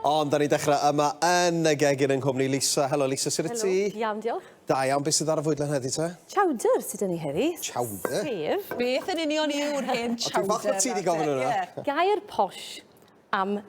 Ond da ni'n dechrau yma yn y gegin yng nghwmni Lisa. Helo Lisa, sydd y ti? Helo, iawn diolch. Da iawn, beth sydd ar y fwydlen heddi te? Chowder sydd yn ni heddi. Chowder? Sef. Beth yn union yw'r hen chowder? O, dwi'n falch bod ti wedi gofyn hwnna. Gair posh. am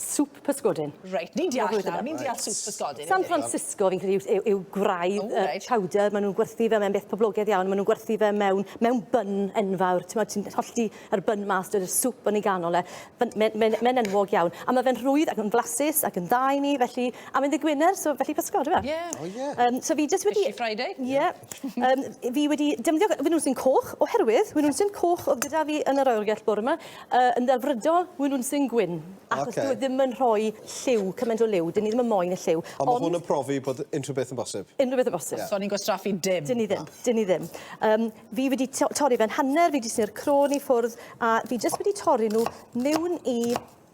swp pysgodyn. Reit, ni'n deall nawr, nawr, ni'n deall swp pysgodyn. San Francisco, fi'n credu, yw, yw gwraidd oh, right. uh, powder, maen nhw'n gwerthu fe, mae'n beth poblogaidd iawn, maen nhw'n gwerthu fe mewn, mewn byn enfawr, ti'n meddwl, ti'n hollti yr byn mas, dyna'r swp yn ei ganol e, mae'n mae, mae enwog iawn. A mae fe'n rhwydd ac yn flasus ac yn dda i ni, felly, a mae'n ddigwynner, so felly pysgod, yw e? Yeah. Oh, yeah. Um, so fi jyst wedi... Fishy Friday. Yeah. um, fi wedi defnyddio, fy nhw'n sy'n coch, oherwydd, fy nhw'n sy'n coch oedd gyda fi yn yr oergell bore yma, Yy yn ddelfrydol wi nw'n sy'n gwyn achos... Oce. ...dyw e ddim yn rhoi lliw cyment o liw 'dyn ni ddim yn moyn y lliw ond... Ond ma' hwn yn profi bod unrhyw beth yn bosib. Unrhyw beth yn bosib. Ie. So ni'n gwastraffu dim. 'Dyn ni ddim. Na. 'Dyn ni ddim. Yym fi wedi to- torri fe'n hanner fi 'di tynnu'r crôn i ffwrdd a fi jyst wedi torri n'w miwn i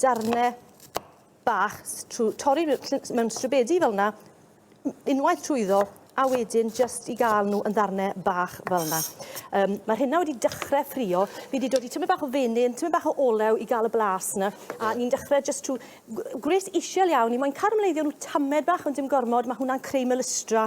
darne bach trwy torri mewn stribedi fel yna, unwaith trwyddo, a wedyn jyst i gael nhw yn ddarnau bach fel yna. Um, Mae'r hynna wedi dechrau ffrio. Fi wedi dod i tymau bach o fenyn, tymau bach o olew i gael y blas yna. A ni'n dechrau jyst trwy gwres isiel iawn. Ni moyn caramleiddio nhw tamed bach ond dim gormod. Mae hwnna'n creu melystra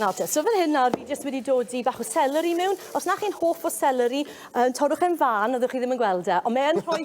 Nawr te, so fan hyn nawr fi jyst wedi dod i bach o seleri mewn. Os na chi'n hoff o seleri, um, torrwch e'n fan, oeddech chi ddim yn gweld e, ond mae e'n rhoi...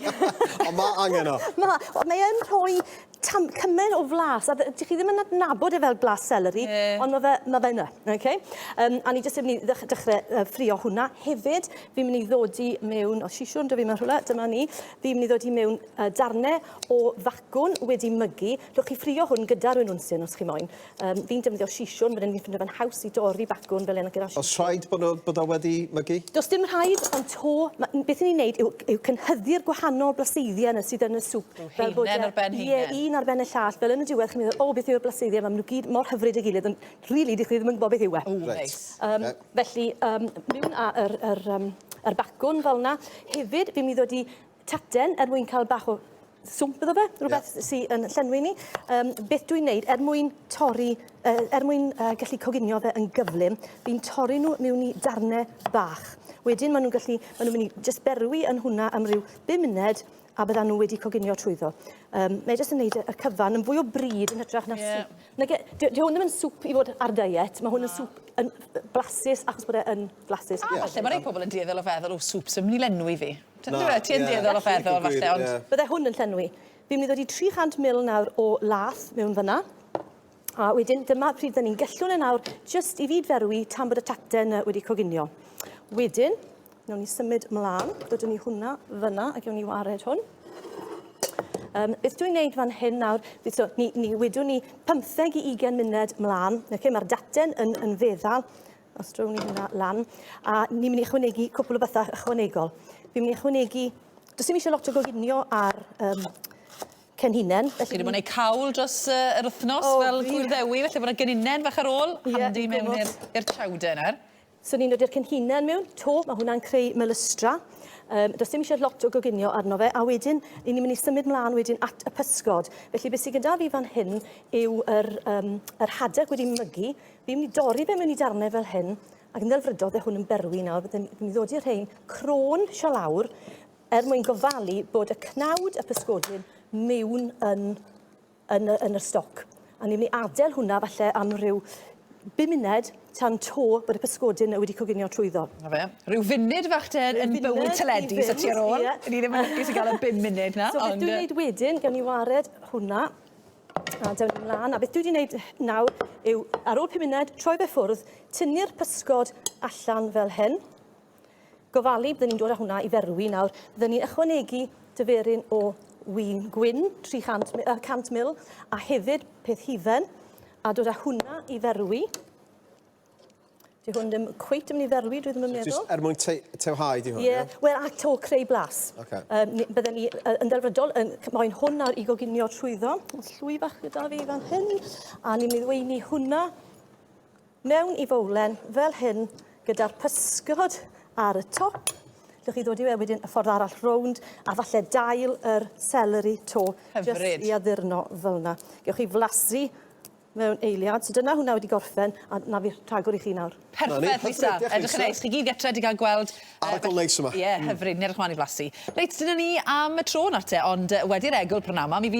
ond mae angen o. Mae, ond mae e'n rhoi tam, cymaint o flas, a dych chi ddim yn adnabod e fel blas seleri, yeah. ond mae fe, ma fe yna, okay? Um, a ni jyst yn mynd i dechrau uh, ffrio hwnna. Hefyd, fi'n mynd i ddod i mewn, o sisiwn, dwi fi mewn rhywle, dyma ni, fi'n mynd i ddod i mewn uh, darnau o facwn wedi mygu. Rwy'ch chi ffrio hwn gyda'r rwy'n wnsyn, os chi moyn. Um, fi'n defnyddio sisiwn, fan hyn fi'n ffindo fe'n haws i dorri bacwn fel yna gyda sisiwn. Os rhaid bod, o, bod o wedi mygu? Does dim rhaid, ond to, ma, beth ni'n neud yw, yw cynhyddu'r gwahanol blaseiddiau yna sydd yn y swp. Yw heinen ar ben heinen? Ie, un ar ben y llall. Fel yn y diwedd, chi'n meddwl, o, beth yw'r blaseiddiau yma? Maen nhw gyd mor hyfryd y gilydd, ond rili, really, dych chi ddim yn gwybod beth yw e. O, right. neis. Um, yeah. Felly, um, miwn ar yr, yr, um, yr bacwn fel yna. Hefyd, fi'n mynd i ddod i taten er mwyn cael bach o swmp iddo fe, rhywbeth yeah. sy'n yn llenwi ni. Um, beth dwi'n neud er mwyn torri, uh, er mwyn uh, gallu coginio fe yn gyflym, fi'n torri nhw mewn i darnau bach. Wedyn maen nhw'n gallu, maen nhw'n mynd i just berwi yn hwnna am ryw 5 munud a bydda nhw wedi coginio trwyddo. Um, mae jyst yn neud y cyfan yn fwy o bryd yn hytrach na yeah. swp. Nage, di, di hwn ddim yn swp i fod ar diet, mae hwn yn swp yn blasus achos bod e yn blasus. A yeah. falle mae rhai pobl yn dieddol o feddwl o swp sy'n mynd i lenwi fi. Ti'n dweud e? Ti yn dueddol o feddwl falle ond... Bydde hwn yn llenwi. Fi'n mynd i ddod i 300 mil nawr o lath mewn fyna. A wedyn dyma pryd dyn ni'n gellwn e nawr jyst i fyd ferwi tan bod y tacten uh, wedi coginio. Wedyn, nawn ni symud mlaen, dydwn ni hwnna fyna ac ewn ni wared hwn. Um, beth dwi'n gwneud fan hyn nawr, so, ni, ni wedwn ni 15 i 20 munud mlaen, okay, mae'r daten yn, yn feddal, Os drwy ni hynna lan, a ni'n mynd i ychwanegu cwpl o bethau ychwanegol. Fi'n mynd i ychwanegu... Does dim eisiau lot o goginio ar um, cyn hunain. Felly... Chi wedi bod yn cawl dros uh, yr wythnos oh, fel gwyr ddewi, felly bod yna gynunen fach ar ôl, yeah, handi mewn i'r chowder nawr. So ni'n dod i'r cynhunen mewn to, mae hwnna'n creu melystra. Um, does dim eisiau lot o goginio arno fe, a wedyn, ni'n mynd i symud mlaen wedyn at y pysgod. Felly, beth sydd gyda fi fan hyn yw yr, um, yr hadeg wedi mygu, Fi'n mynd i dorri fe mewn i darnau fel hyn, ac yn ddelfrydol fe hwn yn berwi nawr, byddwn i'n mynd i ddod i'r rhain crôn sio lawr, er mwyn gofalu bod y cnawd a pysgodyn mewn yn, yn, yn y stoc. A ni'n mynd i adael hwnna falle am rhyw bum munud tan to bod y pysgodyn wedi coginio trwyddo. Na fe. Rhyw funud fach te yn bywyd teledu, so ti ar ôl. Ni ddim yn lwcus i gael y bum munud na. So beth dwi'n neud wedyn, gawn ni wared hwnna A dewn ni mlaen. A beth dwi wedi wneud nawr yw, ar ôl pum munud, troi fe ffwrdd, tynnu'r pysgod allan fel hyn. Gofalu, byddwn ni'n dod â hwnna i ferwi nawr. Byddwn ni'n ychwanegu dyferyn o wyn gwyn, 300 uh, 100 ml, a hefyd peth hufen, a dod â hwnna i ferwi. Di hwn ddim cweit yn mynd i dderwi, dwi ddim yn meddwl. Just er mwyn te tewhau di hwn, ie? Yeah. Wel, a to creu blas. Okay. Um, bydden ni uh, yn delfrydol, yn, mae'n hwn ar i goginio trwyddo. Llwy bach gyda fi fan hyn, a ni'n meddwyni hwnna mewn i fowlen fel hyn, gyda'r pysgod ar y top. Llwch chi ddod i we wedyn y ffordd arall rownd, a falle dail yr celery to. Hyfryd. Just i addurno fel yna. Gewch chi flasu mewn eiliad. So dyna hwnna wedi gorffen a 'na fi rhagor i chi nawr. Perffaith Lisa, edrych yn neis. Chi gyd gytre 'di ga'l gweld... Arogl neis yma. Ie, hyfryd, yn edrych mlan i flasu. Reit, dyna ni am y tro nawr te, ond wedi yr egwl prynawn 'ma, mi fydd...